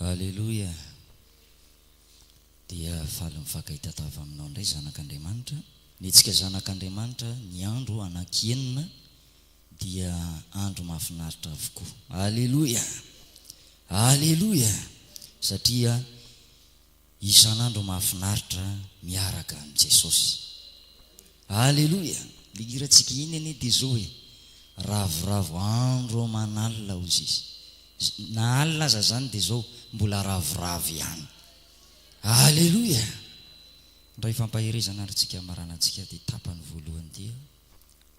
Aleloia! Dia faly mifankahita tava aminao indray zanak'Andriamanitra. Mihetsika zanak'Andriamanitra ny andro anaky enina dia andro mahafinaritra avokoa. Aleloia! Aleloia! Satria. Isan'andro mahafinaritra miaraka amin'i Jesosy. Aleloia! Ilay hirantsika iny anie dia izao hoe, Ravoravo andro aman'alina, hoy Izy. Na alina aza izany dia izao, mbola ravoravo ihany. Aleloia! Indray fampaherezana ary tsika hamaranantsika ity tapany voalohany ity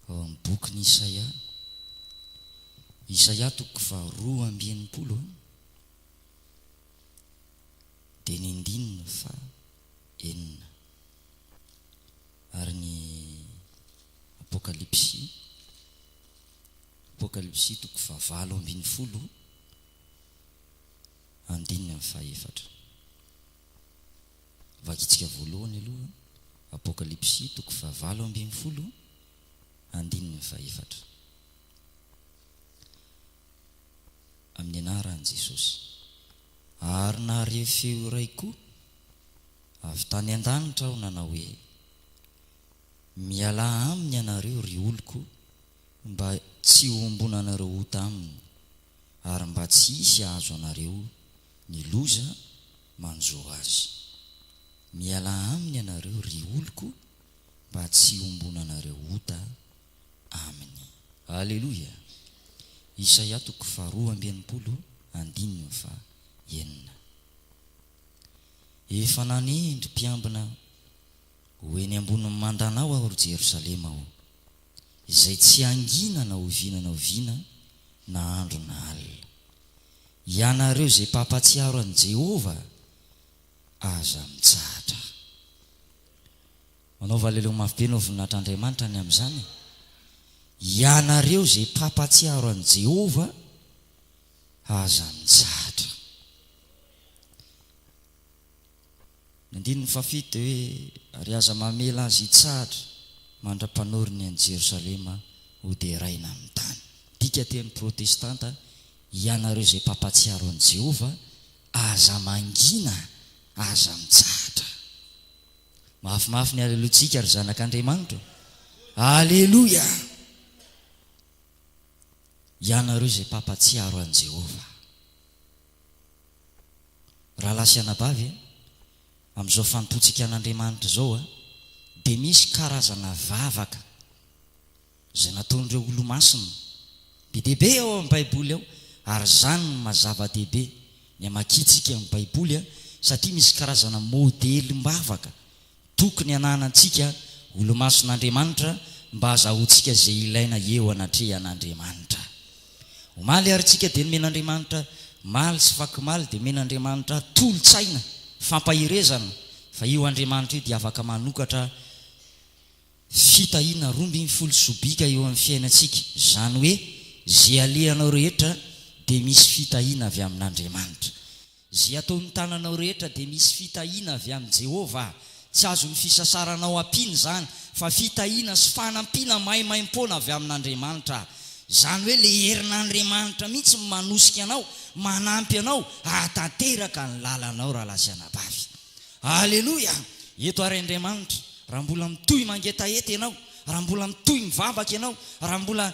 ao amin'ny bokin'i Isaia. Isaia toko faharoa amby enimpolo. dia ny andininy faha enina. Ary ny Apokalypsy, Apokalypsy toko faha valo ambin'ny folo andininy faha efatra. Vakintsika voalohany aloha Apokalypsy toko faha valo ambin'ny folo andininy faha efatra. amin'ny anaran'i Jesosy. Ary nahare feo iray koa avy tany an-danitra aho nanao hoe, Mialà aminy ianareo, ry oloko, mba tsy hohombonanareo ota aminy, ary mba tsy hisy hahazo anareo ny loza manjo azy. Mialà aminy ianareo, ry oloko, mba tsy hohombonanareo ota aminy. Aleloia! Isaia toko faha roa amby enimpolo andininy faha enina Efa nanendry mpiambina ho eny ambonin'ny mandanao Aho ry Jerosalema ô, izay tsy hangina na oviana na oviana na andro na alina. Ianareo izay mpampahatsiaro an'i Jehovah, aza mitsahatra. Manaova leleo mafy be no voninahitr' Andriamanitra ny amin' izany e! Ianareo izay mpampahatsiaro an'i Jehovah, aza mitsahatra. Ny andininy fahafito dia hoe, Ary aza mamela azy hitsahatra mandra-panory ny an'i Jerosalema hoderaina amin'ny tany. Midika teny protestanta, Ianareo izay mpampahatsiaro an'i Jehovah, aza mangina, aza mitsahatra. Mafimafy ny aleloiantsika ry zanak' Andriamanitra ô! Aleloia! Ianareo izay mpampatsiaro an'i Jehovah. Rahalahy sy anabavy a, amin'izao fanompoantsika an'Andriamanitra izao a, dia misy karazana vavaka. Izay nataon'ireo Olomasina. Be dia be ao amin'ny Baiboly ao, ary izany no maha zava-dehibe ny hamakiantsika ny Baiboly, satria misy karazana modelim-bavaka tokony hananantsika Olomason'Andriamanitra mba hazahoantsika izay ilaina eo anatrehan'Andriamanitra. Omaly ary isika dia nomen'Andriamanitra maly sy fakomaly dia nomen'Andriamanitra tolo-tsaina, fampaherezana, fa io Andriamanitra io dia afaka manokatra fitahiana roa ambin'ny folo sobika eo amin'ny fiainantsika, izany hoe izay alehanao rehetra dia misy fitahiana avy amin'Andriamanitra. Izay ataon'ny tananao rehetra dia misy fitahiana avy amin'i Jehovah. Tsy azon'ny fisasaranao ampiana izany, fa fitahiana sy fanampiana maimaimpoana avy amin'Andriamanitra. Izany hoe ilay herin'Andriamanitra mihitsy no manosika anao, manampy anao hahatanteraka ny lalanao rahalahy sy anabavy. Aleloia! Eto ary Andriamanitra, raha mbola mitohy mangetaheta ianao, raha mbola mitohy mivavaka ianao, raha mbola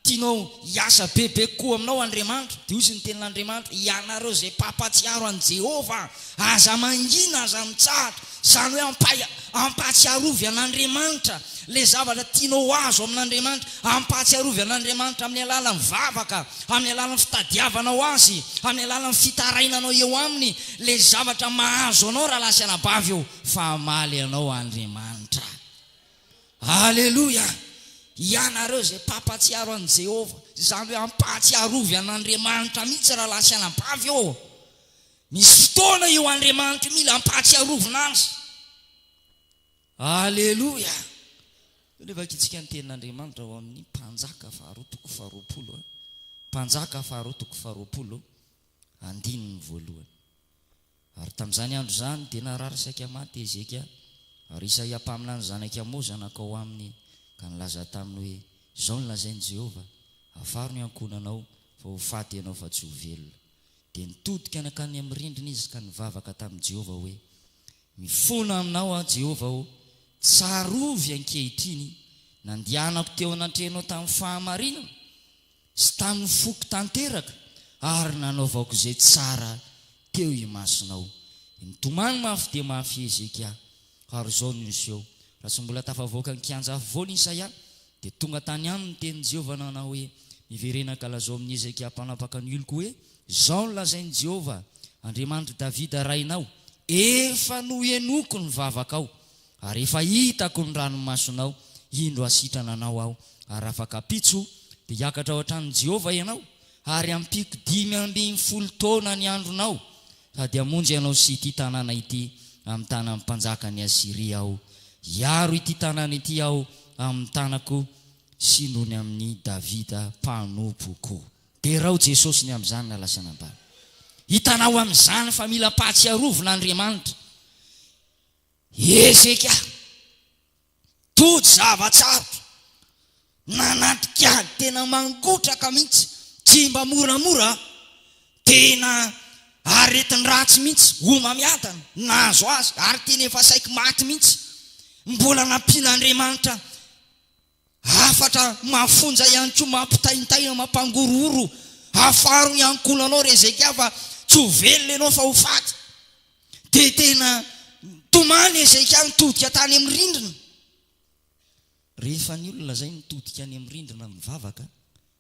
tianao hiasa bebe kokoa aminao Andriamanitra, dia hoy izy ny Tenin'Andriamanitra, Ianareo izay mpampatsiaro an'i Jehovah, aza mangina, aza mitsahatra, izany hoe ampahia, ampahatsiarovy an'Andriamanitra ilay zavatra tianao ho azo amin'Andriamanitra, ampahatsiarovy an'Andriamanitra amin'ny alalan'ny vavaka, amin'ny alalan'ny fitadiavanao Azy, amin'ny alalan'ny fitarainanao eo Aminy, Ilay zavatra mahazo anao rahalahy sy anabavy ô, fa hamaly anao Andriamanitra. Aleloia! Ianareo izay mpampahatsiaro an'i Jehovah, izany hoe ampahatsiarovy an'Andriamanitra mihitsy rahalahy sy anabavy ô. Misy fotoana io Andriamanitra io mila ampahatsiarovina azy. Aleloia! Io dia vakintsika ny tenin'Andriamanitra ao amin'ny Mpanjaka faharoa toko faharoapolo. Mpanjaka faharoa toko faharoapolo. Andininy voalohany. Ary tamin'izany andro izany dia narary saika maty Hezekia, ary Isaia mpaminany zanak'i Amoza nankao aminy ka nilaza taminy hoe, Izao no lazain'i Jehovah, Afaro ny ankohonanao, fa ho faty ianao fa tsy ho velona. Dia nitodika nankany amin'ny rindrina izy ka nivavaka tamin'i Jehovah hoe, Mifona aminao aho, Jehovah ô, tsarovy ankehitriny ny nandehanako teo anatrehanao tamin'ny fahamarinana, sy tamin'ny foko tanteraka, ary nanaovako izay tsara teo imasonao. Nitomany mafy dia mafy i Hezekia, ary izao no niseho, Raha tsy mbola tafavoaka ny kianja afovoany i Isaia, dia tonga tany aminy ny tenin'i Jehovah nanao hoe, Miverena kalazao amin'i Hezekia mpanapaka ny oloko hoe, 'Izao no lazain'i Jehovah, Andriamanitr'i Davida rainao, Efa nohenoiko ny vavakao. Ary efa hitako ny ranomasonao, indro hasitrana anao aho, ary afakampitso, dia hiakatra ao an-tranon'i Jehovah ianao, ary hampiako dimy ambin'ny folo taona ny andronao, sady hamonjy anao sy ity tanàna ity amin'ny tanan'ny mpanjakan'i Asyria aho, hiaro ity tanàna ity aho amin'ny tanako sy noho ny amin'i Davida mpanompoko. Derao Jesosy ny amin'izany na lasa nambany. Hitanao amin'izany fa mila ampahatsiarovina Andriamanitra. Ezeka, tojo zava-tsarotra, nanatrika ady tena mangotraka mihitsy, tsy mba moramora, tena aretin-dratsy mihitsy, homamiadana, nahazo azy, ary tena efa saiky maty mihitsy, mbola nampian'Andriamanitra Hafatra mafonja ihany koa mampitaintaina, mampangorohoro, Afaro ny ankohonanao ry Hezekia fa tsy ho velona ianao fa ho faty. Dia tena tomany Hezekia nitodika tany amin'ny rindrina. Rehefa ny olona izay nitodika any amin'ny rindrina mivavaka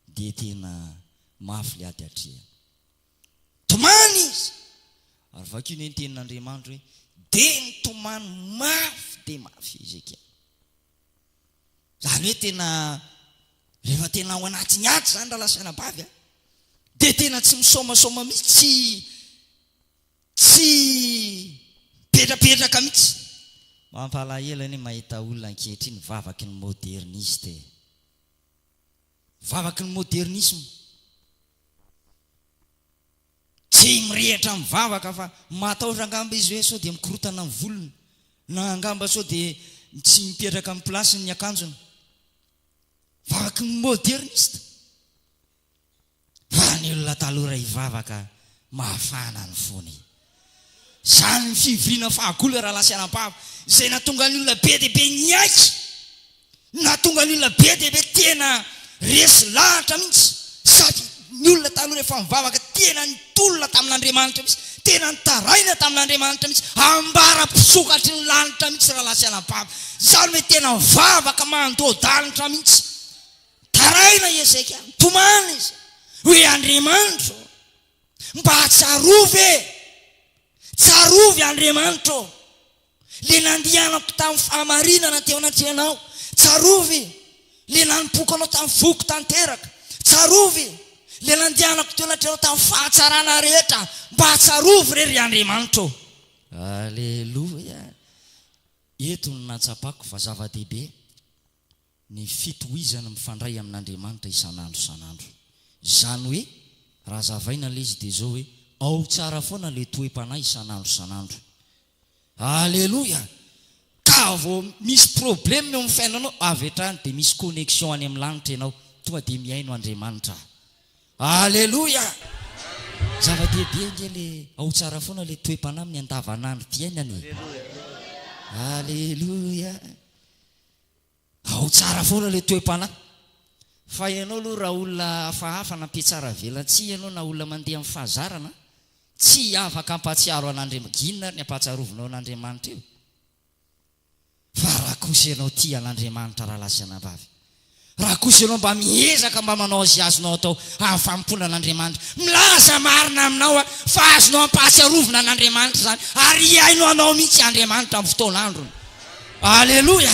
dia tena mafy ilay ady atrehany. Tomany izy. Ary vakio ny tenin'Andriamanitra hoe dia nitomany mafy dia mafy Hezekia. Izany hoe tena rehefa tena ao anatin'ny ady izany rahalahy sy anabavy a, dia tena tsy misaomasaoma mihitsy, tsy tsy mipetrapetraka mihitsy. Mampalahelo anie mahita olona ankehitriny vavaky ny moderniste e! Vavaky ny modernisme. Tsy mirehitra mivavaka fa matahotra angamba izy hoe sao dia mikorotana ny volony na angamba sao dia tsy mipetraka amin'ny place-ny ny akanjony. Vavaky ny moderniste. Fa ny olona taloha raha hivavaka mahafana ny fony. Izany ny fivoriana fahagola raha lasanam-pavo izay nahatonga ny olona be dia be niaiky. Nahatonga ny olona be dia be tena resy lahatra mihitsy sady ny olona taloha rehefa mivavaka tena nitolona tamin'Andriamanitra mihitsy, tena nitaraina tamin'Andriamanitra mihitsy, ambara-pisokatry ny lanitra mihitsy rahalahy sy anabavy. Izany hoe tena mivavaka mandoa-danitra mihitsy. Taraina i Hezekia, nitomany izy hoe Andriamanitro mba tsarovy e! Tsarovy Andriamanitro! Ilay nandianako tamin'ny fahamarinana teo anatrehanao, tsarovy! Ilay nanompoako anao tamin'ny foko tanteraka, tsarovy! Ilay nandianako teo anatrehanao tamin'ny fahatsarana rehetra, mba tsarovy re ry Andriamanitra ô! Aleloia! Eto no nahatsapako fa zava-dehibe ny fitohizana mifandray amin'Andriamanitra isan'andro isan'andro. Izany hoe, raha hazavaina ilay izy dia izao hoe, ao tsara foana ilay toe-panahy isan'andro isan'andro. Aleloia! Ka vao misy problème eo amin'ny fiainanao, avy hatrany dia misy connexion any amin'ny lanitra ianao, tonga dia mihaino Andriamanitra. Aleloia! Zava-dehibe ange le ao tsara foana le toe-panahy amin'ny andavanandrom-piainana e! Aleloia! Ao tsara foana ilay toe-panahy. Fa ianao aloha raha olona hafahafa na mpiatsara avelatsihy ianao na olona mandeha amin'ny fahazarana, tsy afaka hampahatsiaro an'Andriamanitra, inona ary ny hampahatsiarovinao an'Andriamanitra eo? Fa raha kosa ianao tia an'Andriamanitra rahalahy sy anabavy, raha kosa ianao mba miezaka mba manao izay azonao atao hahafahampoana an'Andriamanitra, milaza marina aminao aho fa azonao ampahatsiarovina an'Andriamanitra izany ary hihaino anao mihitsy Andriamanitra amin'ny fotoan'androny. Aleloia!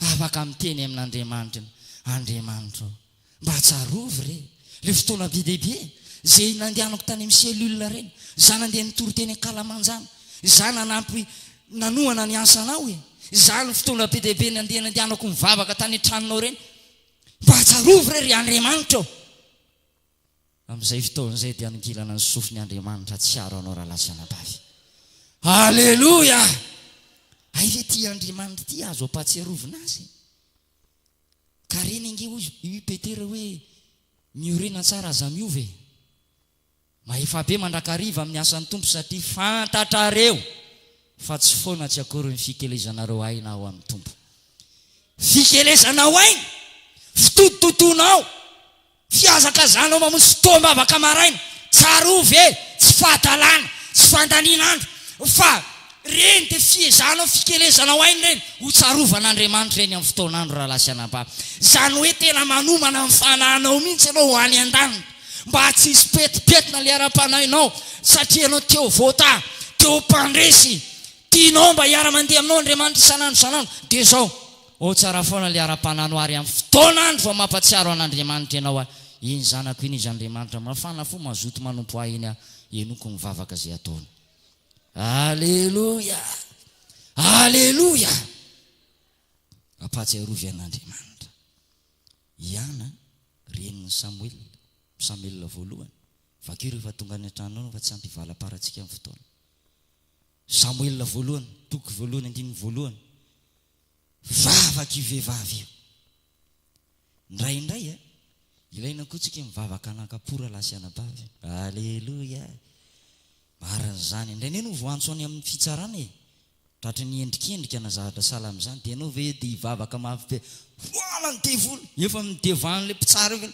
Afaka miteny amin'Andriamanitra ny Andriamanitro. Mba tsarovy re, le fotoana be dia be, ze nandehanako tany amin'ny cellule reny, za nandeha nitory teny ankalamanjana, za nanampy nanohana ny asanao e, za ny fotoana be dia be nandeha nandehanako nivavaka tany an-tranonao reny. Mba tsarovy re ry Andriamanitra o! Amin'izay fotoana izay dia hanongilana ny sofiny Andriamanitra tsy hiaro anao rahalahy sy anabavy. Aleloia! Hay ve ity Andriamanitra ity azo ampahatsiarovina azy? Ka reny ange hoy i Petera hoe miorena tsara aza miova e. Mahefa be mandrakariva amin'ny asan'ny Tompo satria fantatrareo fa tsy foana tsy akory ny fikelezanareo aina ao amin'ny Tompo. Fikelezanao aina, fitototonao, Fihazakazanao mamonjy fotoam-bavaka maraina, tsarovy e, tsy fahadalana, tsy fandaniana andro, fa ireny dia fiezahanao, fikelezanao aina ireny, ho tsarovan'Andriamanitra ireny amin'ny fotoan'andro rahalahy sy anabavy. Izany hoe tena manomana ny fanahinao mihitsy ianao ho any an-danitra, mba tsy hisy petipetina ilay ara-panahinao, satria ianao te ho voatahy, te ho mpandresy, tianao mba hiara-mandeha aminao Andriamanitra isan'andro isan'andro, dia izao. Ho tsara foana ilay ara-panahy no ary amin'ny fotoana andro vao mampatsiaro an'Andriamanitra ianao aho iny zanako iny izy Andriamanitra mafana fo mazoto manompo ahy iny aho henoko ny vavaka izay ataony Aleloia Aleloia Ampahatsiarovy an'Andriamanitra i Ana renin'i Samoela Samoela voalohany vakio rehefa tonga any an-tranonao fa tsy ampy hivalam-parantsika amin'ny fotoana Samoela voalohany toko voalohany andininy voalohany vavaka io vehivavy io. Indraindray a, ilaina koa tsika mivavaka hanakam-po rahalahy sy anabavy. Aleloia! Marina izany. Indraindray ianao voantso any amin'ny fitsarana e, tratry ny endrikendrika na zavatra sahala amin'izany, dia ianao ve dia hivavaka mafy be, voala ny devoly, efa midevan'ilay mpitsara eo ve,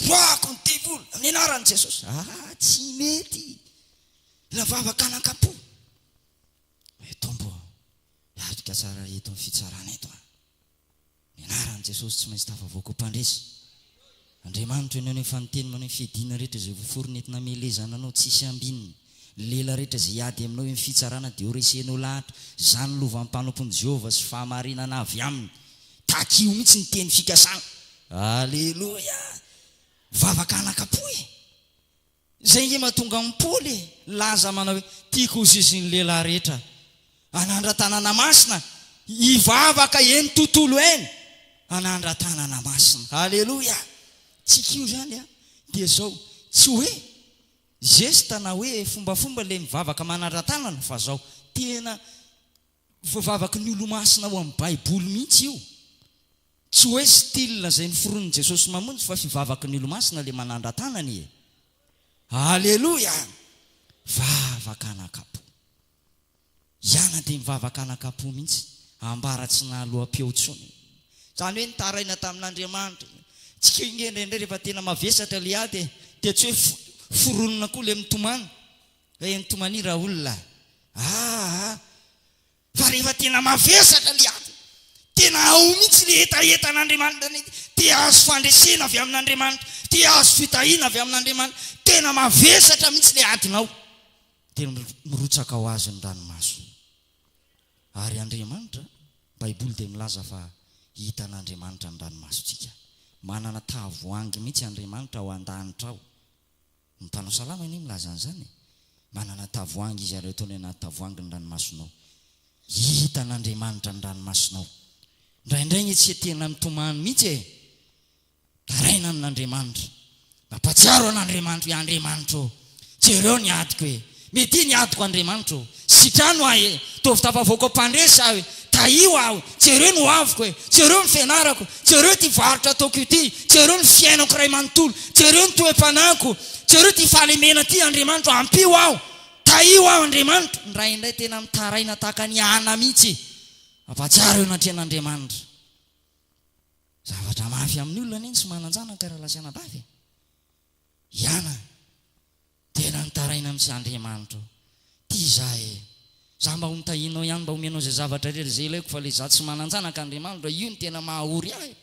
voako ny devoly amin'ny anaran'i Jesosy. Ah, tsy mety! Mila vavaka hanakam-po. Mitomboa. Hiatrika tsara eto ny fitsarana eto an! Ny anaran'i Jesosy tsy maintsy tafavoaka ho mpandresy. Andriamanitro ianao nefa ny teny maneho ny fiadiana rehetra izay voaforona entina hamelezana anao tsisy ambininy. Ny lehilahy rehetra izay hiady aminao eny fitsarana dia horesehinao lahatra. Izany lovan'ny mpanompon'i Jehovah sy fahamarinana avy aminy. Takio mihitsy ny teny fikasana. Aleloia! Mivavaka anaka-po e! Izay nge mahatonga an'i Paoly nilaza manao hoe, Tiako ho zizin'ny lehilahy rehetra an'andra-tanàna masina hivavaka eny tontolo eny an'andra-tanàna masina. Aleloia! Tsika io izany an, dia izao, tsy hoe zesta na hoe fombafomba ilay mivavaka manandra-tanana fa izao, tena Voavavaky ny Olomasina ao amin'ny Baiboly mihitsy io. Tsy hoe style izay noforonin'i Jesosy Mamonjy fa fivavaky ny Olomasina ilay manandra-tanana e! Aleloia! Vavaka anakapo. Iana dia nivavaka anakapo mihitsy, ambara tsy nahaloa-peo intsony. Izany hoe nitaraina tamin'Andriamanitra. Tsy keo inge indraindray rehefa tena mavesatra ilay ady e, dia tsy hoe foronina koa ilay mitomany. Ray an'i Tomani Raoul a! Aa! Fa rehefa tena mavesatra ilay ady, tena ao mihitsy ilay hetaheta an'Andriamanitra ny ady, te hahazo fandresena avy amin'Andriamanitra, te hahazo fitahiana avy amin'Andriamanitra, tena mavesatra mihitsy ilay adinao, dia mirotsaka ho azy ny ranomaso. Ary Andriamanitra, Baiboly dia milaza fa hitan'Andriamanitra ny ranomasontsika. Manana tavoahangy mihitsy Andriamanitra ao an-danitra ao. Ny mpanao salamo anie milaza an'izany e! Manana tavoahangy izy ary ataony anaty tavoahangy ny ranomasonao. Hitan'Andriamanitra ny ranomasonao. Indraindray anie tsy tena mitomany mihitsy e! Taraina amin'Andriamanitra. Mampahatsiaro an'Andriamanitra hoe Andriamanitra ô, jereo ny adiko e! Media ny adiko Andriamanitra ô! Sitrano ahy e! Ataovy tafavoaka ao Mpandresy aho e! Tahio aho! Jereo ny hoaviko e! Jereo ny fianarako! Jereo ity varotra ataoko ity! Jereo ny fiainako iray manontolo! Jereo ny toe-panahiko! Jereo ity fahalemena ity Andriamanitra ô! Ampio aho! Tahio aho Andriamanitra! Ny ray indray tena mitaraina tahaka an'i Hana mihitsy e! Mampahatsiaro eo anatrehan'Andriamanitra! Zavatra mafy amin'ny olona anie ny tsy manan-janaka raha lasa anabavy e! I Hana. Tena nitaraina mihitsy Andriamanitra tia za e! Za mba ho nitahianao ihany mba homenao izay zavatra rehetra izay ilaiko fa le za tsy manan-janaka Andriamanitra io no tena maha ory ahy.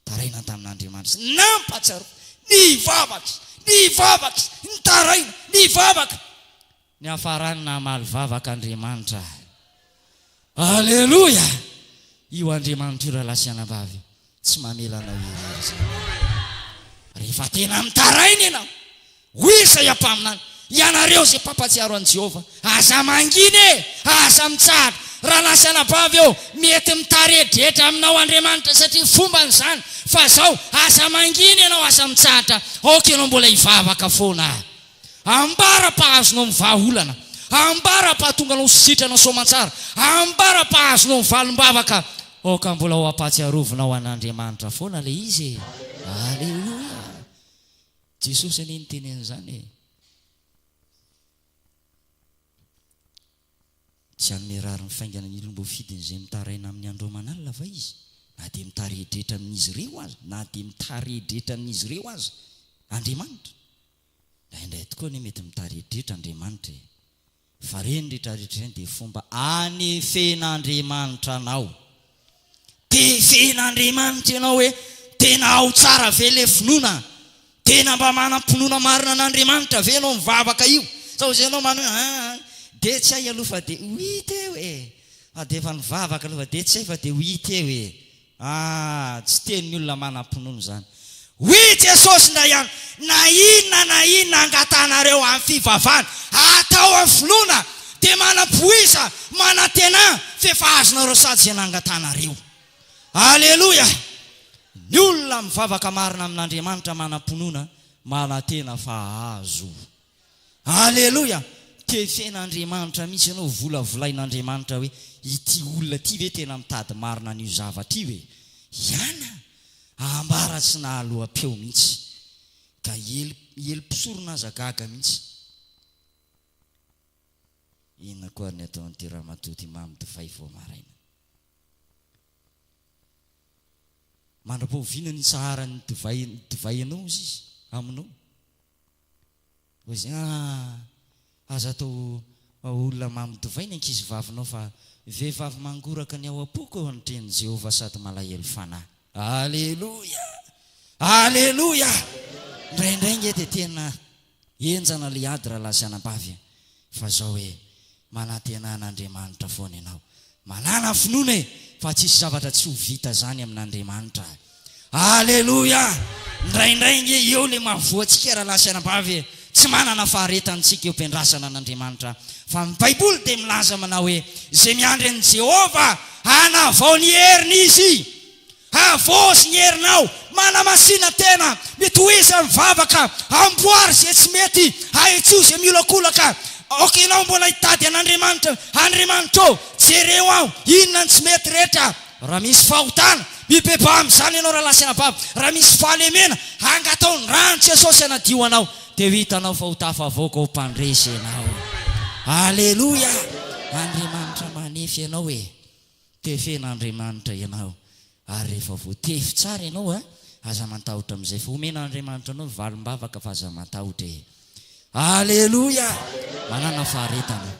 Taraina tamin'Andriamanitra izy. Nampahatsiaro. Nivavaka izy. Nivavaka izy. Nitaraina. Nivavaka. Niafarany namaly vavaka Andriamanitra. Aleloia! Io Andriamanitr'io rahalahy sy anabavy tsy mamela anao irery izany. Rehefa tena mitaraina ianao, hoy Isaia mpaminany, Ianareo izay mpampatsiaro an'i Jehovah, aza mangina e! Aza mitsahatra! Rahalahy sy anabavy ô, mety mitaredredra aminao Andriamanitra satria fombany izany, fa izao, aza mangina ianao, aza mitsahatra, aoka ianao mbola hivavaka foana. Ambara pa azonao ny vaha olana, ambara pa atonganao ho sitrana soamantsara, ambara pa azonao ny valimbavaka, aoka mbola ho ampatsiarovinao an Andriamanitra foana le izy e! Aleloia! Jesosy anie niteny an'izany e! Tsy hanome rariny faingana ny olom boafidiny izay mitaraina amin'ny andro aman'alina va izy? Na dia mitari-dretra amin'izy ireo aza, na dia mitari-dretra amin'izy ireo aza Andriamanitra. Indraindray tokoa anie mety mitaridritra Andriamanitra e! Fa ireny ritradritra ireny dia fomba anefen'Andriamanitra anao. Te hifehin'Andriamanitra ianao hoe tena ao tsara ve ilay finoana? Tena mba manam-pinoana marina an'Andriamanitra ve ianao mivavaka io? Sao izay ianao manohy hoe aa aa dia tsy hay aloha fa dia ho hita eo e! Fa dia efa nivavaka aloha fa dia tsy hay fa dia ho hita eo e! Ah! Tsy tenin'ny olona manam-pinoana izany. Hoy i Jesosy indray ihany, Na inona na inona angatahanareo amin'ny fivavahana, atao amin'ny finoana, dia manam-poiza, manantena, f'efa azonareo sady izay nangatahanareo. Aleloia! Ny olona mivavaka marina amin'Andriamanitra manam-pinoana, manantena fa hahazo. Aleloia! Tefen'Andriamanitra mihitsy ianao, hovolavolain'Andriamanitra hoe, ity olona ity ve tena mitady marina an'io zavatra io e? Iana a! Ambara tsy nahaloa-peo mihitsy. Ka hiely, hiely mpisorona aza gaga mihitsy. Inona koa ary ny ataon'ity ramatoa ity mamy divay vao maraina? Mandra-pahoviana no hitsaharan'ny divay, ny divay anao hozy izy, aminao? Voizina ah! Aza atao olona mamy divay ny ankizivavinao fa vehivavy mangoraka ny ao am-poko eo amin'ny Tenin'i Jehovah sady malahelo fanahy. Aleloia! Aleloia! Indraindray ange dia tena henjana ilay ady raha lahy sy anabavy e! Fa zao ee, manantena an'Andriamanitra foana ianao, manana finoana ee, fa tsisy zavatra tsy ho vita zany amin'Andriamanitra a! Aleloia! Ndraindray ange eo le mahavoa antsika rahalahy sy anabavy ee, tsy manana faharetany tsika eo am-piandrasana an'Andriamanitra, fa ny baiboly dia milaza manao hoe, izay miandry an'i Jehovah, hanavao ny heriny izy. Havozo ny herinao, manamasina tena, mitohiza ny vavaka, amboary izay tsy mety, ahitsio izay miolakolaka, aoka ianao mbola hitady an'Andriamanitra, Andriamanitra ô, jereo aho, inona ny tsy mety rehetra, raha misy fahotana, mibebaha amin'izany ianao rahalahy sy anabavy, raha misy fahalemena, angataho ny ran'i Jesosy hanadio anao, dia ho hitanao fa ho tafavoaka ho mpandresy ianao. Aleloia! Andriamanitra manefy anao e! Tefen'Andriamanitra ianao ary rehefa voatefy tsara ianao a, aza matahotra amin'izay fa omen'Andriamanitra anao valim-bavaka fa aza matahotra e! Aleloia! Manana faharetana,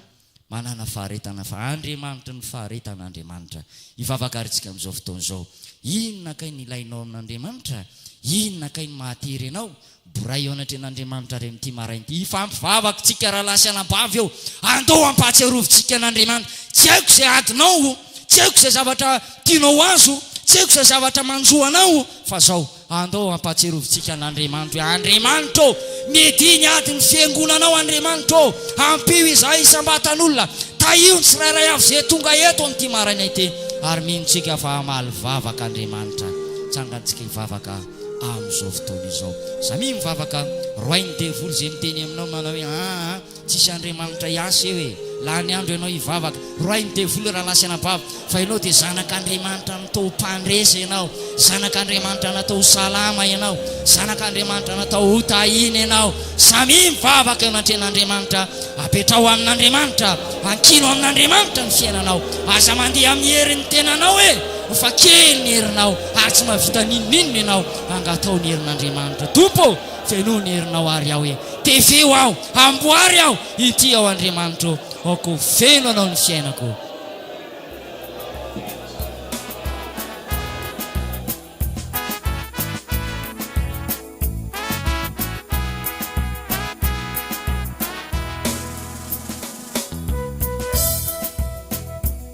manana faharetana fa Andriamanitry ny faharetana Andriamanitra. Hivavaka ary isika amin'izao fotoana izao. Inona kay no ilainao amin'Andriamanitra? Inona kay no mahatery anao? Boray eo anatrehan' Andriamanitra re amin'ity maraina ity ifampivavak' tsika rahalahy sy anabavy ô! Andao hampahatsiarovintsika an' Andriamanitra. Tsy haiko izay adinao o! Tsy haiko izay zavatra tianao ho azy o! Tsy haiko izay zavatra manjo anao o! Fa izao, andao hampahatsiarovintsika an' Andriamanitra hoe, Andriamanitra ô! Media ny adin' ny Fiangonanao Andriamanitra ô! Ampio izahay isam-batan' olona! Tahio ny tsirairay avy izay tonga eto amin'ity maraina ity! Ary mino tsika fa hamaly vavaka Andriamanitra. Tsangantsika hivavaka. amin'izao fotoana izao. Samia mivavaka, roahin'ny devoly izay miteny aminao manao hoe, aa, tsisy Andriamanitra hiasa eo e! Lany andro ianao hivavaka, roahin'ny devoly rahalahy sy anabavy, fa ianao dia zanak'Andriamanitra natao ho mpandresy ianao, zanak'Andriamanitra natao ho salama ianao, zanak'Andriamanitra natao ho tahiana ianao. Samia mivavaka eo anatrehan'Andriamanitra, apetraho amin'Andriamanitra, ankino amin'Andriamanitra ny fiainanao, aza mandeha amin'ny herin'ny tenanao e! Ho fa kely ny herinao. Ary tsy mahavita n'inon'inona ianao hangatao ny herin'Andriamanitra. Tompo ô, fenoy ny herinao àry aho e! Tefeo aho, amboary aho, inty aho Andriamanitra ô, aoka ho feno anao ny fiainako.